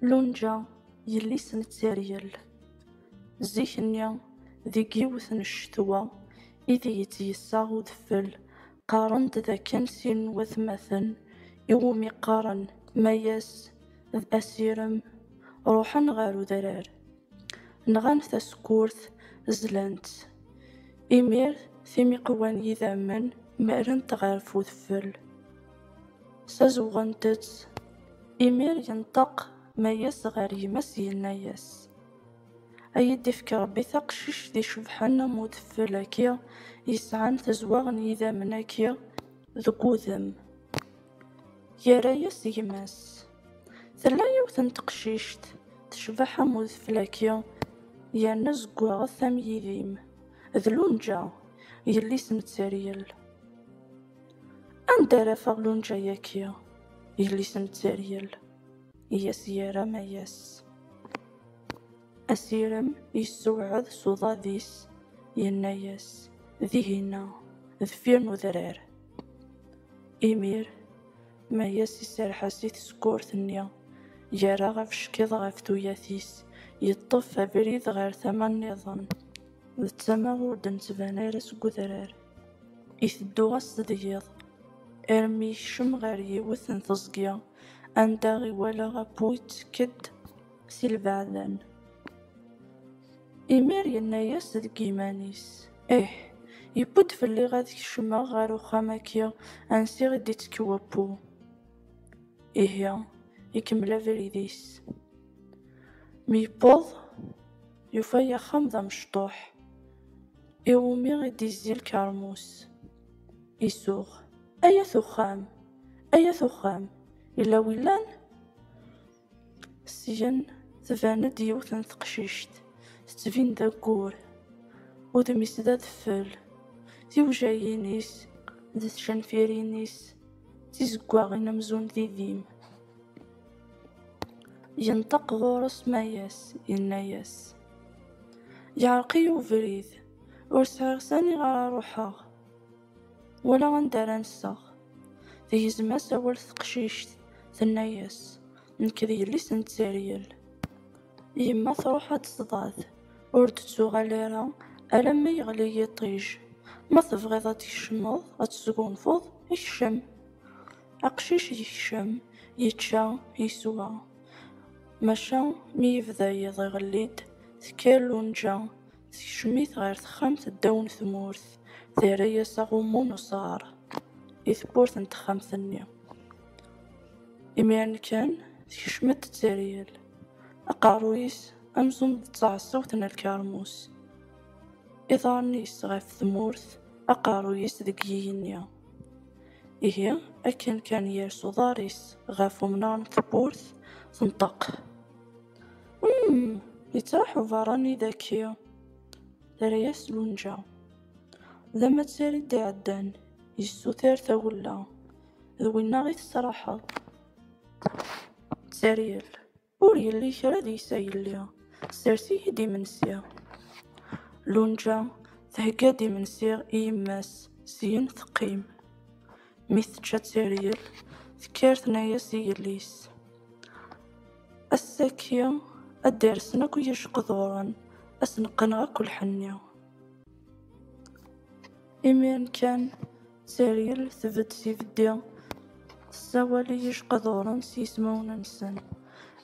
Lunja, yelli-s n tteryel. Zik-nni, deg yiwet n ccetwa id iyi-tt-yessaɣ udfel, qqaren-d d akken sin n watmaten i wumi qqaren Mayas d Asirem ruḥen ɣer udrar. Nɣan tasekkurt, zlan-tt. Imir, timiqwa n yidammen mmalent ɣef udfel. Sazewɣent-tt. Imir yenṭeq Mayes ɣer gma-s yenna-yas, A yi-d-ifk Rebbi taqcict icebḥen am udfel-agi yesɛan tezweɣ n yidammen-agi deg wudem. Yerra-yas gma-s, Tella yiwet n teqcict tecbeḥ am udfel-agi yerna zeggaɣet am yidim d lunǧa, yelli-s n tteryel. Anda ara afeɣ lunǧa-yaki, yelli-s n Tteryel, i as-yerra Mayas. Asirem yessewɛed s uḍad-is, yenna-yas, Dihin-a, deffir n udrar. Imir, Mayas iserreḥ-as i tsekkurt-nni, yerra abeckiḍ ɣef tuyat-is, yeṭṭef abrid ɣer tama-nniḍen, d tama ur d-nettban ara seg udrar. I tedduɣ-as tedgiḍ, armi yekcem ɣer yiwet n teẓgi, anda i walaɣ appu yettekk-d si lbeɛdan. Imir yenna-yas deg yiman-is, Ih, yewwi-d fell-i ad kecmeɣ ɣer uxxam-agi ansi i d-ittekk wappu. Ihi, ikemmel abrid-is. Mi yewweḍ, yufa-y axxam d amecṭuḥ. Iwumi i d-izzi lkermus? Isuɣ, ay at uxxam, ay at uxxam, yella wi llan? Syen tban-d yiwet n teqcict, tettbin d aggur, udem-is d adeffel, tiwjayin-is d tcenfirin-is d tizeggaɣin amzun d idim. Yenṭeq ɣur-s Mayas, yenna-yas. Yeɛreq-iyi ubrid, ur sɛiɣ sani ara ruḥeɣ, wala anda ara nseɣ. Tegzem-as awal teqcict, tenna-as, Nekk d yelli-s n Tteryel. Yemma truḥ ad d-tḍad, ur d-tuɣal ara alamma yeɣli yiṭij. Ma tebɣiḍ ad tkecmeḍ, ad tesgunfuḍ, kcem. Aqcic yekcem, yečča, yeswa. Maca mi yebda yiḍ iɣelli-d, tekker Lunǧa, tekcem-it ɣer texxamt ddaw n tmurt, terra-as aɣummu n usaɣar i tewwurt n texxamt-nni. Imiren kan, tekcem-d d teryel, aqerruy-is amzun d taɛeṣṣawt n lkermus, iḍarren-is ɣef tmurt, aqerruy-is deg yigenni. Ihi, akken kan yers uḍar-is ɣef umnar n tewwurt, tenṭeq. Umm! Yettraḥ uberrani daki! Terra-yas Lunǧa. D amattar i d-iɛeddan, yessuter tawella. D winna i tesraḥeḍ. Tteryel. Ur yelli kra deg-s a yelli, sers-iyi-d imensi. Lunǧa thegga-d imensi i yemma-s, syin teqqim. Mi tečča tteryel, tekker tenna-as i yelli-s, Ass-agi ad d-rsen akk yijeqduren, ad sen-qqneɣ akk lḥenni. Imiren kan. Sariel tbedd s ibeddi, tessawal i yijeqduren s yismawen-nsen.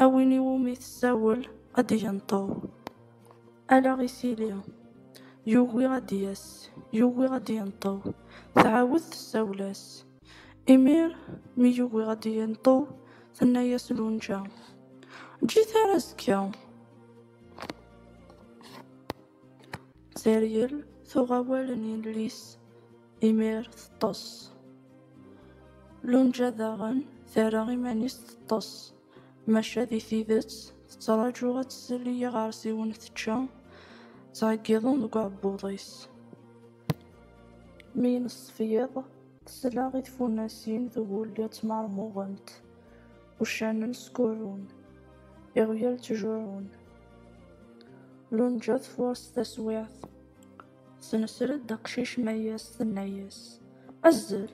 A win i wumi tessawel ad d-yenṭew, ala isili, yugi ad d-yas, yugi ad d-yenṭew, tɛawed tessawel-as. Imir mi yugi ad d-yenṭew, tenna-yas Lunǧa, Eǧǧ-it ar azekka. Teryel tuɣ awal n yelli-s imir teṭṭes. Lunǧa daɣen terra iman-is teṭṭes, maca di tidet tettraǧu ad tsel i yiɣersiwen tečča, ttɛeggiḍen deg uɛebbuḍ-is. Mi ineṣṣef yiḍ, tesla i tfunnasin tgulli ttmermuɣent. Uccanen skurrun, iɣyal ttjurrun. Lunǧa tfuṛes taswiɛt, tesnesred aqcic mayas tenna-yas, Azzel!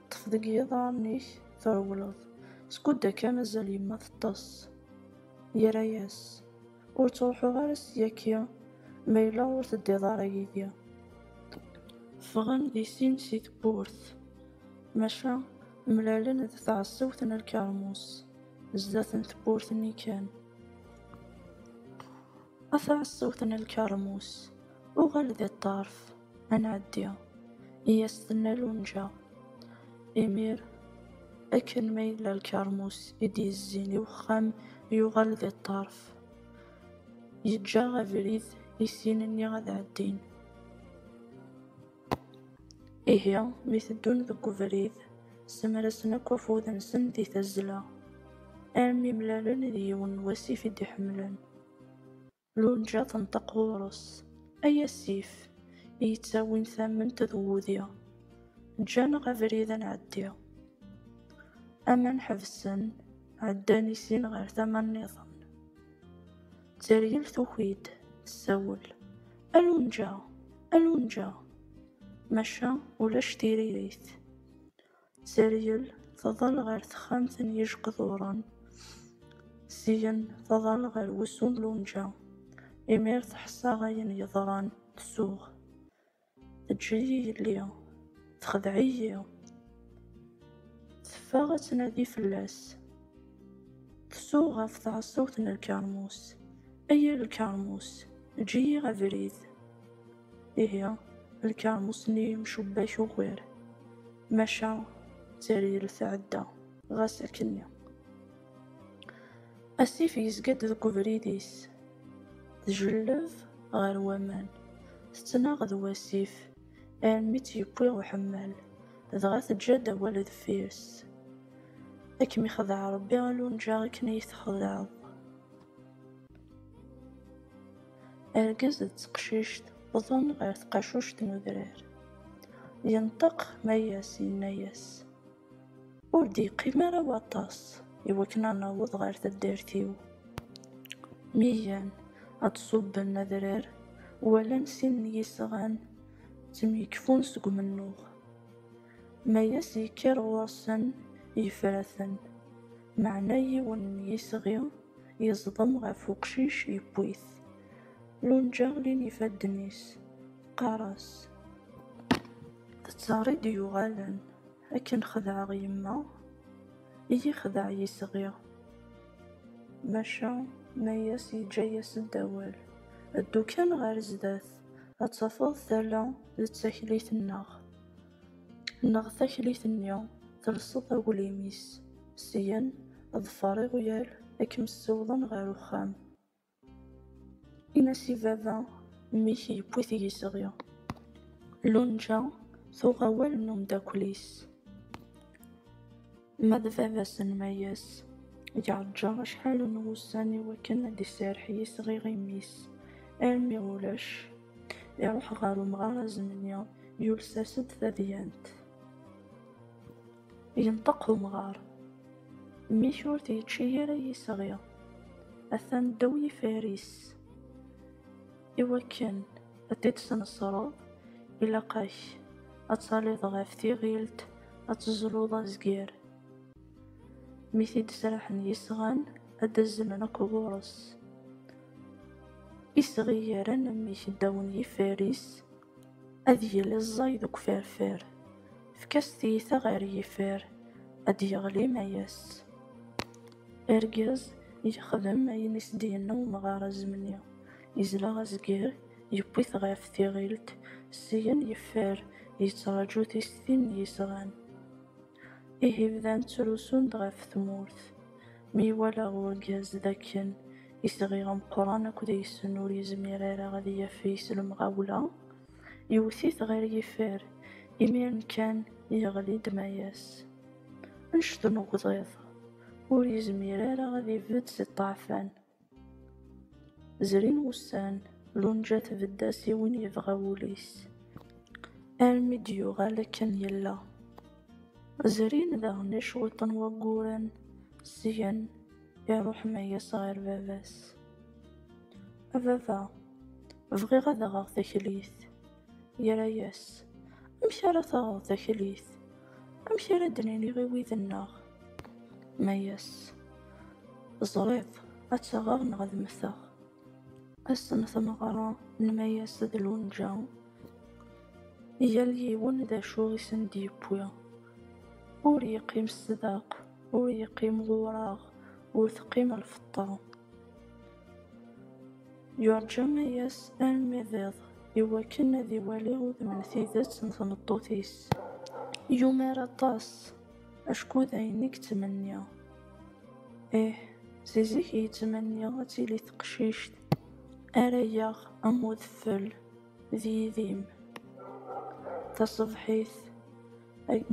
Ṭṭef deg yiḍarren-ik trewleḍ, skud akka mazal yemma teṭṭes. Yerra-yas, Ur ttruḥuɣ ara ssyaki ma yella ur teddiḍ ara yid-i. Ffɣen di sin si tewwurt, maca. Mlalen d tɛessawt n lkermus, zdat n tewwurt-nni kan. A tɛessawt n lkermus, uɣal di ṭṭerf, ad nɛeddi, i as-tenna Lunǧa. Imir, akken ma yella lkermus i d-yezzin i wexxam, yuɣal di ṭṭerf. Yeǧǧa abrid i sin-nni ad ɛeddin. Ihi, mi teddun deg ubrid, semrasen akk afud-nsen di tazzla, armi mlalen d yiwen n wasif i d-iḥemmlen. Lunǧa tenṭeq ɣur-s, Ay asif, i yettawin tamment d wudi, ǧǧan-aɣ abrid ad nɛeddi. Aman ḥebsen, ɛeddan i sin ɣer tama-nniḍen. Zeryen tuki-d tessawel. A Lunǧa! A Lunǧa! Maca ulac tiririt. Zeryen tḍal ɣer texxamt n yijqduren. Syen tḍal ɣer wusu n Lunǧa. Imir teḥsa ayen yeḍran, tsuɣ. Teǧǧiyi yelli, texdeɛ-iyi. Teffeɣ ad tnadi fell-as. Tsuɣ ɣef tɛeṣṣawt n lkermus. Ay a lkermus, eǧǧ-iyi abrid. Ihi, lkermus-nni yemcubbak ugar. Maca, tteryel tɛedda, ɣas akken. Asif yezga-d deg ubrid-is, tjelleb ɣer waman, tettnaɣ d wasif armi tt-yewwi uḥemmal, dɣa teǧǧa-d awal deffir-s, Ad kem-ixdeɛ Rebbi a Lunǧa akken i yi-txedɛeḍ. Argaz d teqcict wwḍen ɣer tqacuct n udrar. Yenṭeq Mayas, yenna-yas. Ur d-yeqqim ara waṭas i wakken ad naweḍ ɣer taddart-iw. Mi gan ad ṣubben adrar, walan sin n yisɣan ttemyekfun seg umennuɣ. Mayas yekker ɣur-sen, yefra-ten, meɛna yiwen n yisɣi yeẓḍem ɣef uqcic yewwi-t. Lunǧa lin ifadden-is, teqqar-as. D ttari d-yuɣalen. Akken xedɛeɣ yemma, iyi-xdeɛ yisɣi. Maca Mayas yeǧǧa-yas-d awal, Ddu kan ɣer zdat, ad tafeḍ tala d taklit-nneɣ. Neɣ taklit-nni telseḍ aglim-is, syen ḍfer iɣyal ad kem-ssiwḍen ɣer uxxam. Ini-as i baba, mmi-k yewwi-t yisɣi. Lunǧa tuɣ awal n umdakkel-is. Ma d baba-s n Mayes, yeɛǧǧa acḥal n wussan i wakken ad d-iserreḥ yisɣi i mmi-s, armi ulac. Iruḥ ɣer umɣar azemni, yules-as-d tadyant. Yenṭeq umɣar. Mmi-k ur t-yečči ara yisɣi. Atan ddaw yifar-is. I wakken ad t-id-tesnesreḍ, ilaq-ak ad taliḍ ɣef tiɣilt, ad teẓluḍ azger. Mi t-id-sraḥen yisɣan, ad d-azzlen akk ɣur-s. Isɣi yerran mmi-k ddaw n yifar-is. Ad yili ẓẓay deg uferfer. Efk-as tiyita ɣer yifer, ad d-yeɣli ma yes. Argaz yexdem ayen i s-d-yenna umɣar azemni, yezla azger, yewwi-t ɣef tiɣilt, syen yeffer, yettraǧu tistin n yisɣan. Ihi bdan ttrusun-d ɣef tmurt. Mi iwala urgaz d akken isɣi ameqqran akk deg-sen ur yezmir ara ad yafeg s lemɣawla, yewwet-it ɣer yifir. Imiren kan yeɣli-d Mayas. Anect n ugḍiḍ, ur yezmir ara ad ibedd si ṭṭeɛfan. Zrin wussan, Lunja tbedd-as i win yebɣa wul-is, armi d-yuɣal akken yella. Zrin daɣen i cwiṭ n wagguren, syen iruḥ Mayas ɣer baba-s. A baba, bɣiɣ ad aɣeɣ taklit. Yerra-yas, Amek ara taɣeḍ taklit? Amek ara d-nini i wid-nneɣ? Tenna-yas, Teẓriḍ, ad taɣeɣ neɣ ad mmteɣ. Ass n tmeɣra, nma-yas d lunǧa. Yal yiwen d acu i sen-d-yewwi. Ur yeqqim sdaq, ur yeqqim d ureɣ, ur teqqim lfeṭṭa. Yurǧem ayas armi d iḍ, iwakken ad iwali udem n tidet n tmeṭṭut-is. Yumar aṭas, acku d ayen i yettmenni. Ih, si zik i yettmenni ad tili teqcict ara yaɣ am udfel d yidim. Taṣebḥit,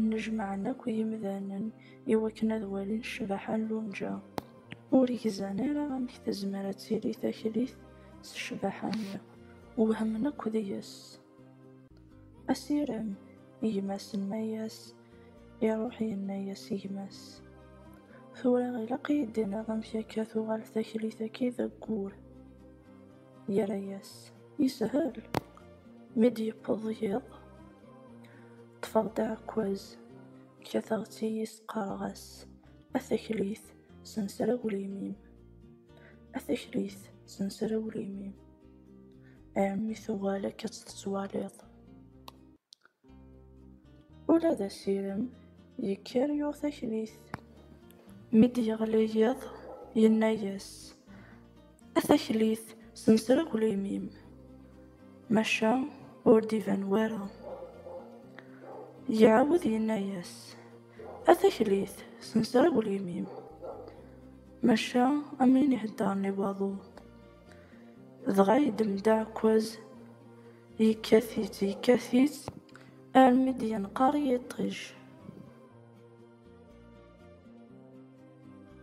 nnejmaɛen akk yimdanen iwakken ad walin ccbaḥa n Lunǧa. Ur gzan ara amek tezmer ad tili taklit s ccbaḥa-nni, wehmen akk deg-s. Asirem, i gma-s n Mayas, iruḥ yenna-yas i gma-s, Tura ilaq i yi-d-tiniḍ amek akka tuɣal taklit-agi d aggur. Yerra-yas, Yeshel, mi d-yewweḍ yiḍ, ṭṭfeɣ-d aɛekkaz, kkateɣ-tt-iyi s qqareɣ-as, A taklit senser aglim-im, a taklit senser aglim-im, ɛemmi tuɣal akka ad tettwaliḍ. Ula d asirem yekker yuɣ taklit. Mi d-yeɣli yiḍ, yenna-yas, A taklit semser aglim-im, maca ur d-iban wara. Iɛawed yenna-yas, A taklit semser aglim-im, maca am win iheddren i waḍu. Dɣa yeddem-d aɛekkaz, yekkat-itt, yekkat-itt armi d-yenqer yiṭij.